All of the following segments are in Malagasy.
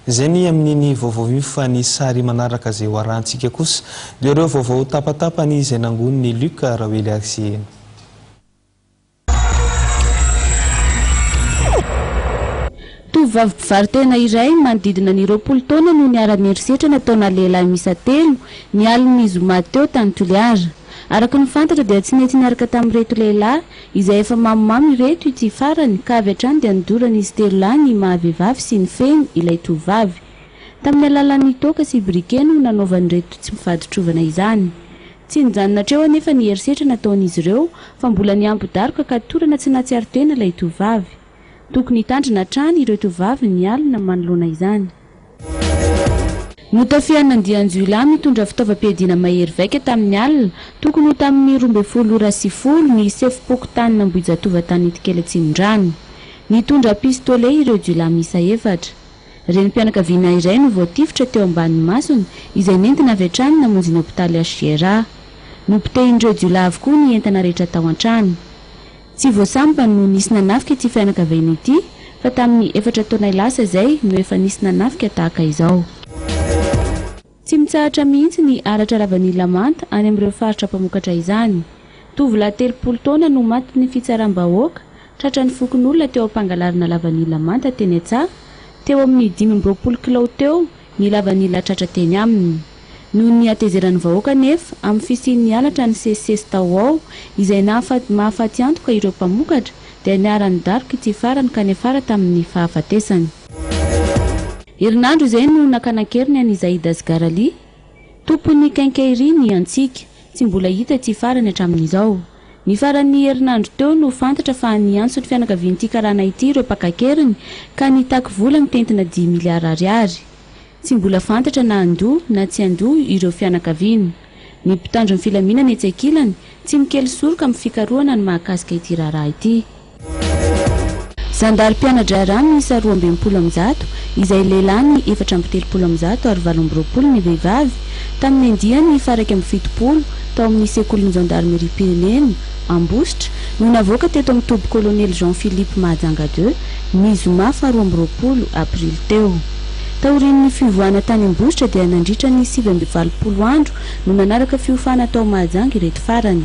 Izay ny amin'iny vaovao io fa ny sary manaraka izay hoarahantsika kosa dia ireo vaovao tapatapany izay nangonin'i Luc Rawely azy eny. Tovovavy mpivaro-tena iray manodidina ny roapolo taona no niara-niherisetra nataona lehilahy miisa telo, ny alin'ny zoma teo tany Toliara. Araka ny fantatra dia tsy nety niaraka tamin'ireto lehilahy, Izay efa mamomamo ireto ity farany ka avy hatrany dia nodorany izy telo lahy ny maha vehivavy sy ny fehiny ilay tovovavy. Tamin'ny alalan'ny toaka sy briquet no nanaovan'ireto tsy mifaditrovana izany. Tsy nijanona hatreo anefa ny herisetra nataon'izy ireo fa mbola nihambo daroka ka torana tsy nahatsiaro tena ilay tovovavy. Tokony hitandrina hatrany ireo tovovavy ny alina manoloana izany. Notafihan'ny andian-jiolahy mitondra fitaovam-piadiana mahery vaika tamin'ny alina, tokony ho tamin'ny roa ambin'ny folo ora sy folo, ny sefom-pokontanin'Ambohijatovo tany Itikely Atsimondrano. Nitondra pistolet ireo jiolahy miisa efatra. Renim-pianakaviana iray no voatifitra teo ambanin'ny masony, izay nentina avy hatrany namonjy ny hopitaly HJRA. Nopotehin'ireo jiolahy avokoa ny entana rehetra tao an-trano. Tsy vao sambany no nisy nanafika ity fianakaviana ity fa tamin'ny efatra taonay lasa izay no efa nisy nanafika tahaka izao. Tsy mitsahatra mihitsy ny halatra lavanila manta any amin'ireo faritra mpamokatra izany. Tovolahy telopolo taona no matin'ny fitsaram-bahoaka tratran'ny fokonolona teo am-pangalarana lavanila manta teny an-tsaha, teo amin'ny dimy amby roapolo kilao teo Nilava ny latratra teny aminy. Noho ny hatezeran'ny vahoaka anefa, amin'ny fisian'ny halatra nisesisesy tao ho ao, izay nahafaty mahafaty antoka ireo mpamokatra, dia niharan'ny daroka ity farany ka niafara tamin'ny fahafatesany. Herinandro izay no nakana an-keriny an'i Zaid Asghar Ali, tompon'ny Quincaillerie ny Antsika, tsy mbola hita ity farany hatramin'izao. Ny faran'ny herinandro teo no fantatra fa niantso ny fianakavian'ity karana ity ireo mpaka an-keriny ka nitaky vola mitentina dimy miliara ariary. Tsy mbola fantatra na handoa na tsy handoa ireo fianakaviana. Ny mpitandro ny filaminana etsy ankilany, tsy mikely soroka amin'ny fikarohana ny mahakasika ity raharaha ity. Zandary mpiana-draharaha miisa roa amby enimpolo amin'ny zato, izay lehilahy ny efatra amby telopolo amin'ny zato ary valo amby roapolo ny vehivavy, tamin'ny andiany faha iraika amby fitopolo tao amin'ny Sekolin'ny Zandarimeriam-pirenena, Ambositra, no navoaka teto amin'ny toby Kolonely Jean Philippe Mahajanga ii, ny zoma faha roa amby roapolo aprily teo. Taorian'ny fivoahana tany Ambositra dia nandritra ny sivy amby valopolo andro no nanaraka fiofana tao Mahajanga ireto farany.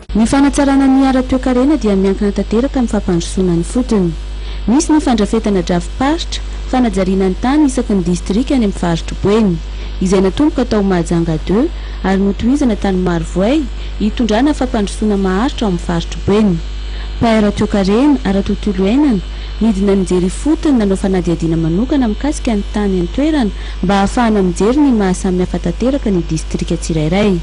Ny fanatsarana ny ara-toekarena dia miankina tanteraka amin'ny fampandrosoana ny fotony. Misy ny fandrafetana drafi-paritra, fanajariana ny tany isaky ny distrika any amin'ny faritr'i Boeny, izay natomboka tao Mahajanga deux, ary notohizana tany Marovoay, hitondrana fampandrosoana maharitra ao amin'ny faritr'i Boeny. Mpahay ara-toekarena, ara-tontolo iainana, nidina nijery ifotony, nanao fanadihadiana manokana mikasika ny tany an-toerana mba hahafahana mijery ny maha samihafa tanteraka ny distrika tsirairay.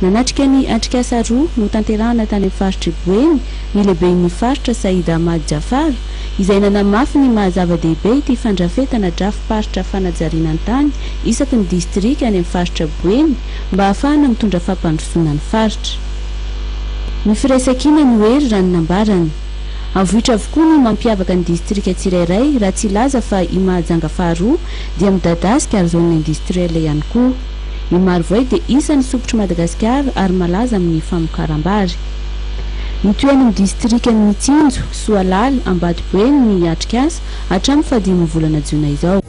Nanatrika ny atrikasa roa notanterahana tany amin'ny faritr'i Boeny ny lehiben'ny faritra Said Ahmad Jafar, izay nanamafy ny maha zava-dehibe ity fandrafetana drafi-paritra fanajariana ny tany isaky ny distrika any amin'ny faritra Boeny mba hahafahana mitondra fampandrosoana ny faritra. Ny firaisankina no hery raha ny nambarany. Avoitra avokoa ny mampiavaka ny distrika tsirairay raha tsy hilaza fa i Mahajanga faharoa dia midadasika ary zone industrielle ihany koa. I Marovoay dia isan'ny sokitr'i Madagasikara ary malaza amin'ny famokaram-bary. Ny toeran'ny distrikan'i Mitsinjo, Soalaly, Ambatoboeny ny atrikasa hatramin'ny fahadimy volana jiona izao.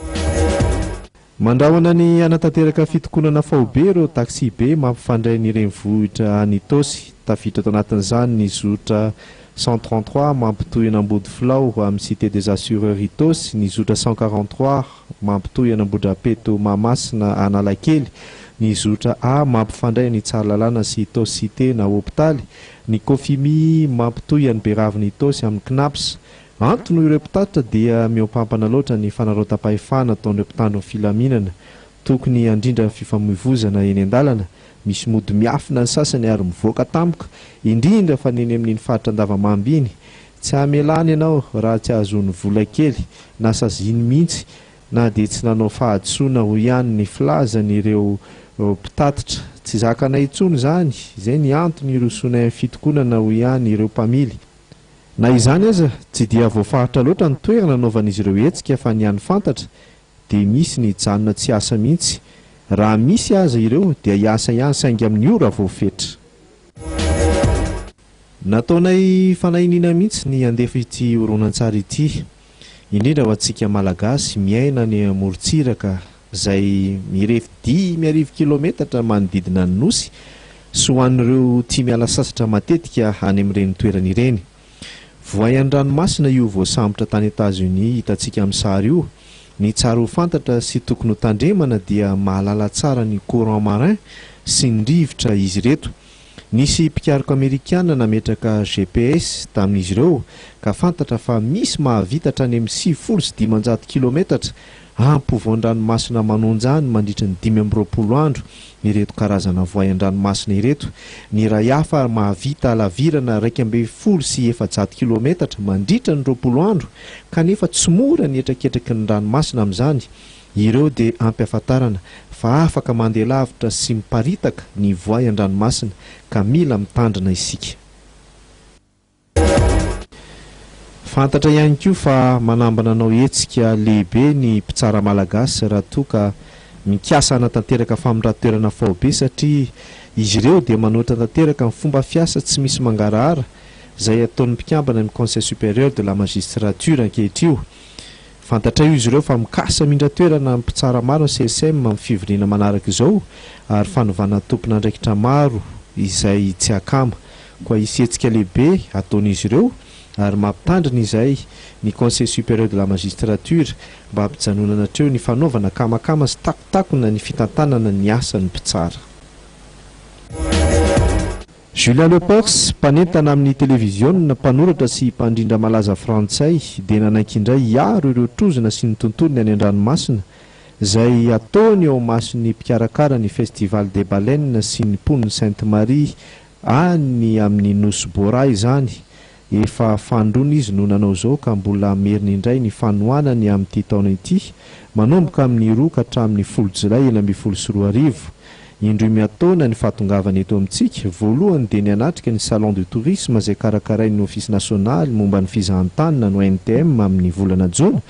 Mandrahona ny hanatanteraka fitokonana faobe ireo taksibe mampifandray ny renivohitra any Itaosy. Tafiditra tao anatin'izany ny zotra cent trente trois mampitohy an'Ambodifilao amin'ny Cité des Assureurs Itaosy, ny zotra cent quarante trois, Mampitohy an'Ambohidrapeto Mahamasina Analakely ny zotra A mampifandray an'i Tsaralalana sy Itaosy-Cité na hopitaly, ny Cofimi mampitohy an'i Beravin'i Itaosy amin'ny Cnaps. Antony hoy ireo mpitatitra dia mihoampampana loatra ny fanarautam-pahefana ataon'ireo mpitandro ny filaminana. Tokony handrindra ny fifamoivozana eny an-dalana, misy mody miafina ny sasany ary mivoaka tampoka, indrindra fa ny eny amin'iny faritra Andavamamba iny Tsy hamelany ianao raha tsy ahazoany vola kely na saziany mihitsy na dia tsy nanao fahadisoana hoy ihany ny filazan ireo mpitatitra. Tsy zakanay intsony izany, izay ny antony hirosoanay amin'ny fitokonana hoy ihany ireo mpamily. Na izany aza, tsy dia voafaritra loatra ny toerana anaovan'izy ireo hetsika fa ny any fantatra dia misy ny hijanona tsy hiasa mihitsy. Raha misy aza ireo dia hiasa ihany saingy amin'ny ora voafetra. Nataonay fanahiniana mihitsy ny handefa ity horonantsary ity, indrindra ho antsika Malagasy miaina any amorontsiraka izay mirefy dimy arivo kilaometatra manodidina ny Nosy sy ho an'ireo tia miala sasatra matetika any amin'ireny toerana ireny. Voay an-dranomasina io voasambotra tany Etats-Unis hitantsika amin'ny sary io, ny tsara ho fantatra sy tokony ho tandremana dia mahalala tsara ny courant marin sy ny rivotra izy ireto. Nisy mpikaroka Amerikana nametraka GPS tamin'izy ireo ka fantatra fa misy mahavita hatrany amin'ny sivifolo sy dimanjato kilometatra ampovoan-dranomasina manonja ny mandritry ny dimy amby roapolo andro ireto karazana voay an-dranomasina ireto. Ny iray hafa ary mahavita halavirana iraika ambin'ny folo sy efajato kilometatra mandritra ny roapolo andro kanefa tsy mora ny hetraketraky ny ranomasina amin'izany Ireo dia ampihafantarana fa afaka mandeha lavitra sy miparitaka ny voay an-dranomasina ka mila mitandrina isika. Fantatra ihany koa fa manambana hanao hetsika lehibe ny mpitsara malagasy raha toa ka mikasa hanatanteraka famindran-toerana faobe satria izy ireo dia manoatra tanteraka ny fomba fiasa tsy misy mangarahara izay ataon'ny mpikambana amin'ny Conseil supérieur de la magistrature ankehitrio Fantatray hoy izy ireo fa mikasa hamindra toerana ny mpitsara maro ny CSM amin'ny fivoriana manaraka izao ary fanovana tompon'andraikitra maro izay tsy akama. Koa hisy hetsika lehibe ataon'izy ireo ary mampitandrina izay ny Conseil supérieur de la magistrature mba hampijanonana hatreo ny fanaovana akamakama sy takontakona ny fitantanana ny asan'ny mpitsara. Julien Lepers, mpanentana amin'ny televiziona, mpanoratra sy mpandrindra malaza frantsay dia nanaiky indray hiaro ireo trozona sy ny tontolony any an-dranomasina izay ataony eo imason'ny mpikarakara ny Festival des Baleines sy ny mponin'i Sainte-Marie any amin'ny Nosy Bora izany Efa fandroana izy no nanao izao ka mbola hameriny indray ny fanohanany amin'ity taona ity, manomboka amin'ny roa ka hatramin'ny folo jolay enina ambin'ny folo sy roa arivo. Indroy miataona ny fahatongavany eto amintsika, voalohany dia ny hanatrika ny Salon du Tourisme izay karakarain'ny Ofisy Nasionaly momba ny Fizahan-tany na ONTM amin'ny volana jona,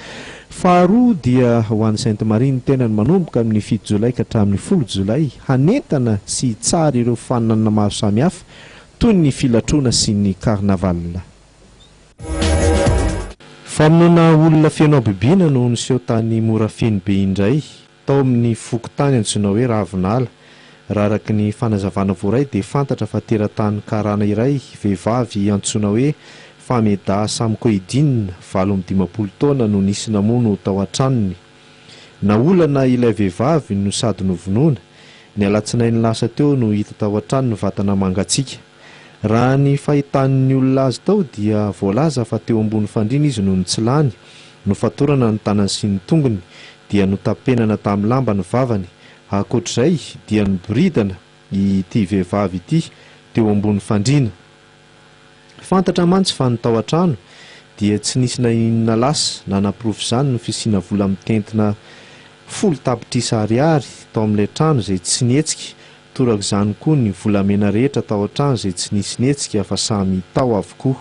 faharoa dia ho any Sainte Marie ny tenany manomboka amin'ny fito jolay ka hatramin'ny folo jolay hanentana sy hitsara ireo faninanana maro samihafa toy ny filatroana sy ny carnaval. Famonoana olona feno habibiana no niseho tany Morafeno be indray, tao amin'ny fokontany antsoina hoe Ravinala. Raha araka ny fanazavana voaray dia fantatra fa teratany karana iray vehivavy antsoina hoe Fameda Samkoedine, valo amby dimampolo taona no nisy namono tao an-tranony. Naolana ilay vehivavy no sady novonoina. Ny alatsinainy lasa teo no hita tao an-trano ny vatana mangatsiaka. Raha ny fahitan'ny olona azy tao dia voalaza fa teo ambony fandriana izy nony tsy lany, nofatorana ny tanany sy ny tongony dia notapenana tamin'ny lamba ny vavany. Ankoatr'izay dia noboridana ity vehivavy ity teo ambony fandriana. Fantatra mantsy fa ny tao an-trano dia tsy nisy na inona lasa nanaporofo izany ny fisiana vola mitentina folo tapitrisa ariary tao amin'ilay trano izay tsy nihetsika, torak'izany koa ny volamena rehetra tao an-trano izay tsy nisy nihetsika fa samy tao avokoa.